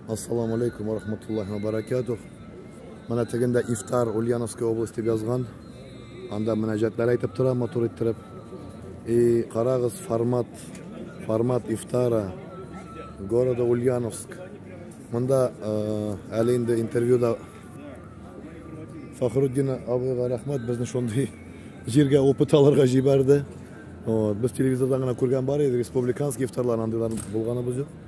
Ассаламу алейкум ва рахматуллахи ва баракатух. Менә тегендә ифтар Ульяновская область дип язган. Анда мөнәҗәтләр әйтеп тора, матур иттереп. И карагыз формат, формат ифтара города Ульяновск. Монда э, әле инде интервьюда Фахруддин абыйга рәхмәт, безне шундый җиргә опыт алырга җибәрде. Вот, без телевизордан гына күргән бар иде, республиканский ифтарлар андыйлар булганы без юк.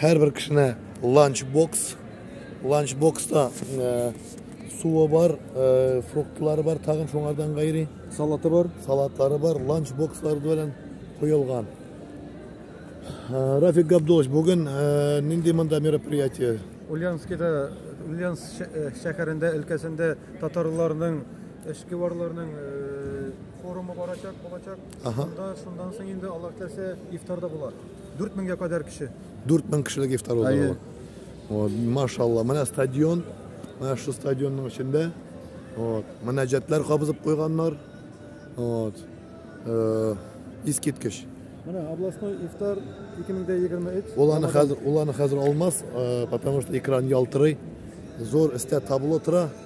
Һәрбер кешенә ланч бокс. Ланч бокста суы бар, э, фруктлары бар, тагын шуңардан гайри. Салаты бар. Салатлары бар, ланч бокслары белән куелган. Э, Рафик Габдулович, бүген э, нинди монда мероприятие? Ульянскида, Ульянск шәһәрендә, өлкәсендә татарларның эшке барларның форумы барачак, булачак. Ага. Шунда, шундан соң инде Аллаһ теләсә ифтарда булар. Дүрт меңгә кадәр кеше. Дүрт мең кешелек ифтар узды. Вот, машалла. Менә стадион. Менә шу стадионның эчендә. Вот, мөнәҗәтләр кабызып куйганнар. Вот. Э, искиткеч. Менә областной ифтар 2023. Ул аны хәзер, ул аны хәзер алмас, э, потому что экран ялтырый. Зур эстә табло тора.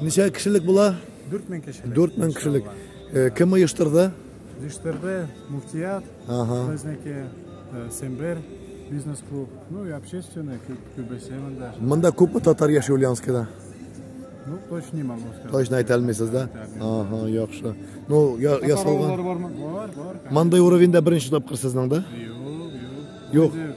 Ничә кешелек була? 4000 кешелек. 4000 кешелек. Э, кем оештырды? Оештырды муфтият, ага. безнеке э, Сембер бизнес-клуб, ну и общественный, күбесе монда. Монда күпме татар яши Ульяновскида? Ну, точно не могу сказать. Точно әйтә алмыйсыз да? Ага, яхшы. Ну, я я салган. Бар, бар. Мандай уровеньда беренче тапкыр сезнең да? Юк, юк. Юк.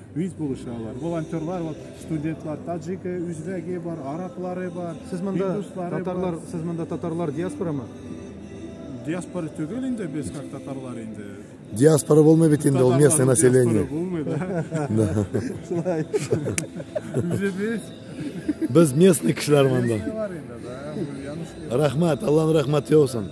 Үз булышы алар. Волонтерлар, вот студентлар, таджике, үзбәге бар, араплары бар. Сез монда татарлар, сез монда татарлар диаспорамы? Диаспора түгел инде без как татарлар инде. Диаспора булмый бит инде ул местное население. Булмый да. Шулай. Үзебез. Без местный кешеләр монда. Рәхмәт, Аллаһның рәхмәте яусын.